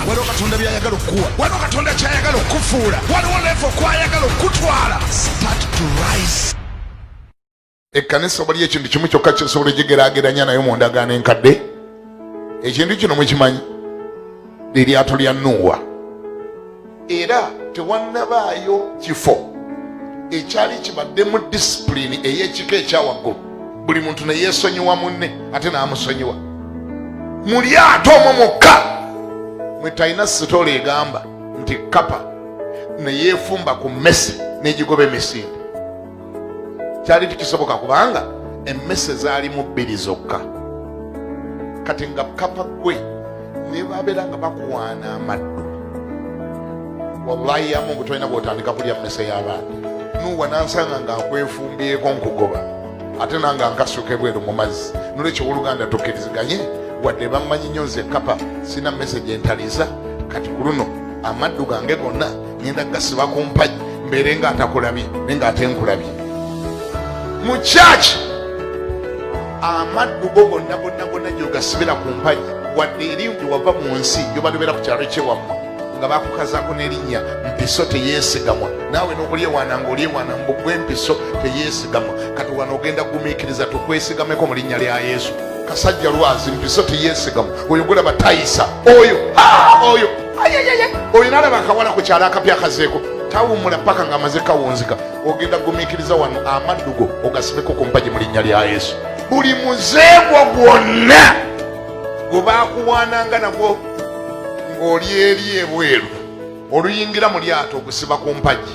waliwo katonda byayagala okukuwa waliwo katonda kyayagala okukufuula waliwo levo kwayagala okukutwala start to rise ekkanisa waliyo ekintu kimu kyokka kyosobola egigerageranya nayo mu ndagaano enkadde ekintu kino mukimanyi liryato lya nuuwa era tewannabaayo kifo ekyali kibadde mu disipulini ey'ekika ekyawaggulu buli muntu ne yeesonyiwa munne ate n'amusonyiwa mu lyato omwo mukka mwe talina sitoola egamba nti kapa ne yeefumba ku mmese n'egigoba emisinde kyali tikisoboka kubanga emmese zaalimu bbiri zokka kati nga kapa gwe nebabeera nga bakuwaana amaddu wallahi yamu ngutolina gwotandika kulya mmese y'abaana nuwa nansanga nga nkwefumbyeko nkugoba ate nanga nkasuka ebweru mu mazzi nolwekyo woluganda tukiriziganye wadde bammanyi nyo nze kapa sina mmese gyentaliza kati ku luno amaddu gange gonna ngenda gasiba ku mpagi mbeere nga atakulabye naye nga ate nkulabye mu kyaki amaddu go gonna gonna gonna gyogasibira ku mpagi wadde eri gye wava mu nsi gyobalobera ku kyalo kyewammwe nga bakukazako nerinnya mpiso teyesigamwa naawe nokulyewaana nga olyewaana mbugwa empiso teyesigamwa kati wano ogenda kugumiikiriza tukwesigameko mu linnya lya yesu kasajja lwazi mpiso teyesigamwa oyo gulaba tayisa oyo oyo oyo nalaba akawala ku kyalo akapya akazeeko tawummula paka nga amaze kawunzika ogenda gumiikiriza wano amaddugo ogasibeko ku mpagi mu linnya lya yesu buli muzeegwo gwonna gwe baakuwaananga nagwo ng'oli eri ebweru oluyingira mu lyato ogusiba ku mpagi